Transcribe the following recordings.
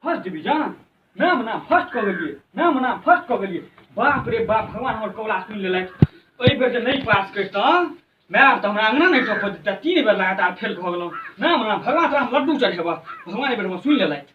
First division नाम ना first कऽ गेलियै नाम ना फर्स्ट कऽ गेलियै बाप रे बाप भगवान हमर कौला सुनि लेलथि एहि बेर जे नहि पास करितहुँ माय आब तऽ हमरा अङ्गना नहि टपऽ देतै तीन बेर लगातार फेल भऽ गेलहुँ नाम ना भगवान तोरा हम लड्डू चढ़ेबह भगवान एहि बेर हमर सुनि लेलथि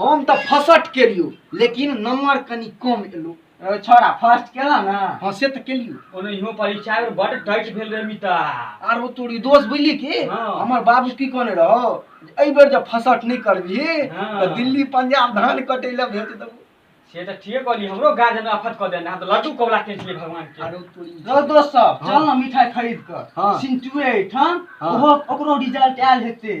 हम तऽ फसट केलियो लेकिन नंबर कनि कम एलो ए, छोरा फर्स्ट केला ना हाँ से तऽ केलियो ओनहियो परीक्षा में बड़ टच भेल रहे मिता आर वो तोरी दोस्त बुझली की हाँ। हमर बाबू की कहने रहो जे एहि बेर जब फसट नहीं करबी हाँ। तऽ दिल्ली पंजाब धान कटे ले भेज देबो से तऽ ठीके कहली हमरो गार्जियन आफत कऽ देना हम तऽ लड्डू कौला के छियै भगवान के आरो तोरी रो दोस्त सब हाँ। चल ना मिठाई खरीद कर हाँ। सिंटुए ठाम हाँ। ओहो ओकरो रिजल्ट आयल हेते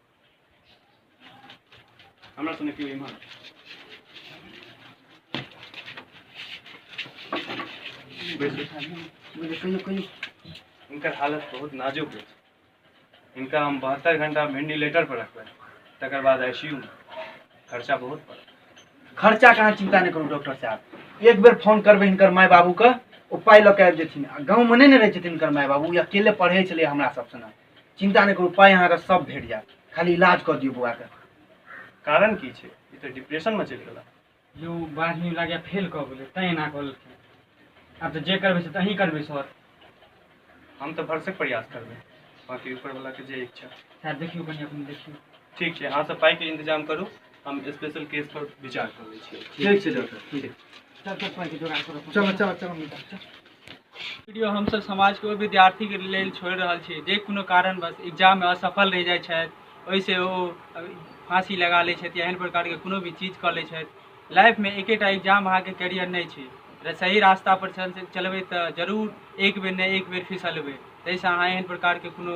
हमरा सुने केओ इम्हर इनकर हालत बहुत नाजुक है इनका हम बहत्तर घंटा वेंटिलेटर पर रखबै तकर बाद आईसीयू में खर्चा बहुत पड़त खर्चा कहाँ चिंता नहीं करू डॉक्टर साहब एक बेर फोन करबै हिनकर माय बाबूके ओ पाइ लऽ कऽ आबि जेथिन आ गाँवमे नहि ने रहै छथिन हिनकर माय बाबू ई अकेले पढ़ै छलै हमरा सब सङ्गे चिन्ता नहि करू पाइ अहाँके सब भेट जायत खाली इलाज कऽ दियौ बौआके कारण की छै ई तऽ डिप्रेशनमे चलि गेला यौ बारहवीं लागैए फेल कऽ गेलै तैँ एना कऽ लेलखिन आब तऽ जे करबै से तऽ अहीं करबै सर हम तऽ भरसक प्रयास करबै बाँकी ऊपरवलाके जे इच्छा सएह देखियौ कनि अपन देखियौ ठीक छै अहाँ सब पाइके इन्तजाम करू हम स्पेशल केस पर विचार कर लै छियै ठीक छै डॉक्टर ठीक चल चल पाँच जोगाड़ करो चलो चलो चलो मिटा चल वीडियो हमसब समाजके ओहि विद्यार्थीके लेल छोड़ि रहल छी जे कोनो कारणवश एग्जाममे असफल रहि जाइ छथि ओहिसँ ओ फाँसी लगा लै छथि या एहन प्रकारके कोनो भी चीज कऽ लै छथि लाइफमे एकेटा एग्जाम अहाँके कैरियर नहि छै र- सही रास्तापर चल चलबै तऽ जरूर एक बेर नहि एक बेर फिसलबै ताहिसँ अहाँ एहन प्रकारके कोनो